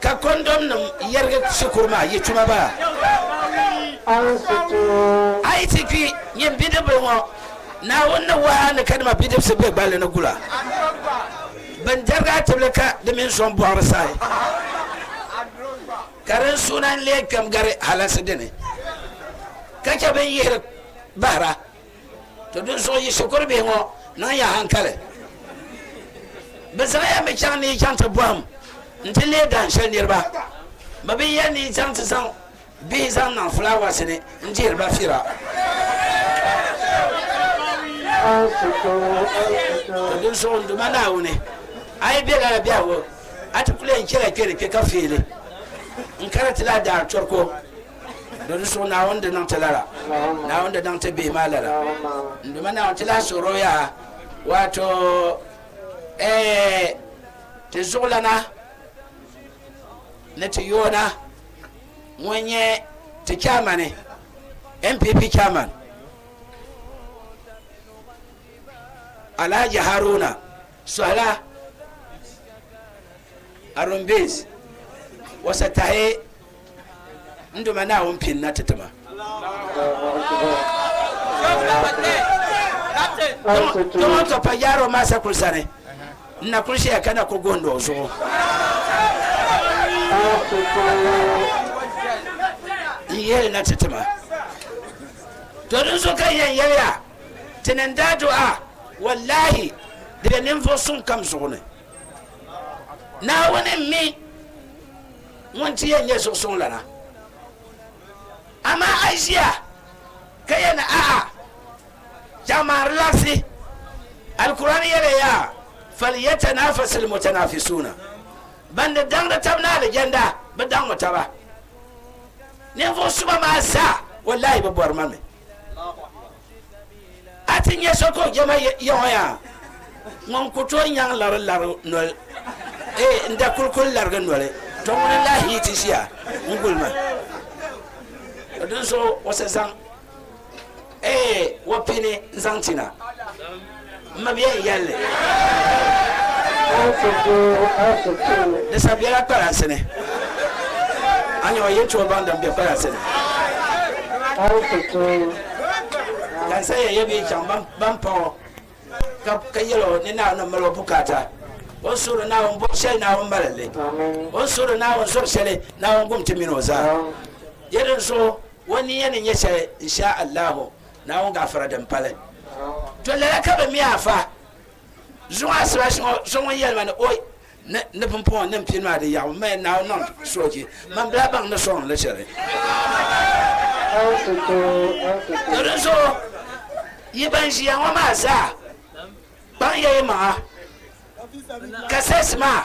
Ka kɔndɔm nim yɛrigi shikuru maa yɛtuma baa. A yi ti kpi, nyin bidibbil ŋɔ, Naawuni ni wahi a ni ka dima bidibisi be gballi ni gula bɛn dɛrigi a tibili ka di mini sɔŋ bɔɣiri saai, ka din suuna n-lee kpɛm gari halaŋsi dini, ka chɛ bɛn yihiri bahira. To dinzuɣu yi shikuru bihi ŋɔ niŋ ya hankali. Bɛ zaŋ ya mi chaŋ ni yi chaŋ ti bɔhim nti leei dahin shɛli niriba. Bɛ bi yɛli ni yi chaŋ ti zaŋ bihi zaŋ niŋ fulaawaasi ni n-dihiri ba fira. To dinzuɣu n Duuma Naawuni, a yi be lala biɛhigu, a ti kul yɛn chɛla kpe ni kpe ka feeli n-kana ti lahi daari tɔri ko Do ni suhi Naawuni di niŋ ti lala, Naawuni di niŋ ti bihi maa lala. N duma Naawuni ti lahi suhiri o yaha, waato, eeh, ti zuɣulana ni ti yoona ŋun nyɛ ti chaamani, NPP chairman, Alhaji Haruna Sohila Arumbis Wasa Tahe. N Duuma Naawuni pini na ti ti ma. Dama n tɔpa yaari o maasa kuli sani, n na kuli ʒiya ka na ku gondi o zuɣu. N yeli na ti ti ma. To dinzuɣu ka n yɛn yeli ya, ti ni n daa du a, wallahi, di be ninvuɣ suŋ kam zuɣu ni. Naawuni m-mi Ŋun ti yɛn nyɛ zuɣusuŋlana. Amaa a yi ʒiya ka yɛli ni, A'a! Jaŋ maa di laɣisi. Alkur'aani yɛliya yaa, Falyatanafasil mutanafisuuna, Ban di daŋdi taba ni alijanda, bɛ daŋmi taba. Ninvuɣ suba maa zaa, wallahi bɛ bɔri ma mi. A ti nya so ka o jɛma Yɛhoya ŋun ku tooi nyaŋ lari lari noli, ee, n-da kuli kuli larigi noli, to ŋuni n-lahi yi ti ʒiya n-guli ma? Ka dinzuɣu o sa zaŋ, ee, o pini n-zaŋ ti na. M mabiɛhi n yɛli li. Aashiku, Aashiku. Di sabi biɛla kpalansi ni. A nyɛma yɛltɔɣa baŋ din be kpalansi ni. Aashiku, Aashiku. Ka n sayiya yɛbi yi chaŋ ban paɣ o ka yɛl o ni Naawuni mal o bukaata. O ni suhiri Naawuni bɔbu shɛli Naawuni mali li. O ni suhiri Naawuni zɔri shɛli Naawuni gum ti min o zaa. Di ni zuɣu o niya ni nyɛ shɛli, N Shaa Allaahu. Naawuni gaafara din pali to lala ka bɛ mi a fa zuŋɔ asibaasi ŋɔ so ŋun yɛli ma ni o ni pumpɔŋɔ ni m-pini maa di yaɣi o maya Naawuni niŋ soochi man bɛ baŋ ni sɔŋ li shɛli. To dinzuɣu yi ban ʒiya ŋɔ maa zaa kpaŋya yi maŋa ka sɛs maa.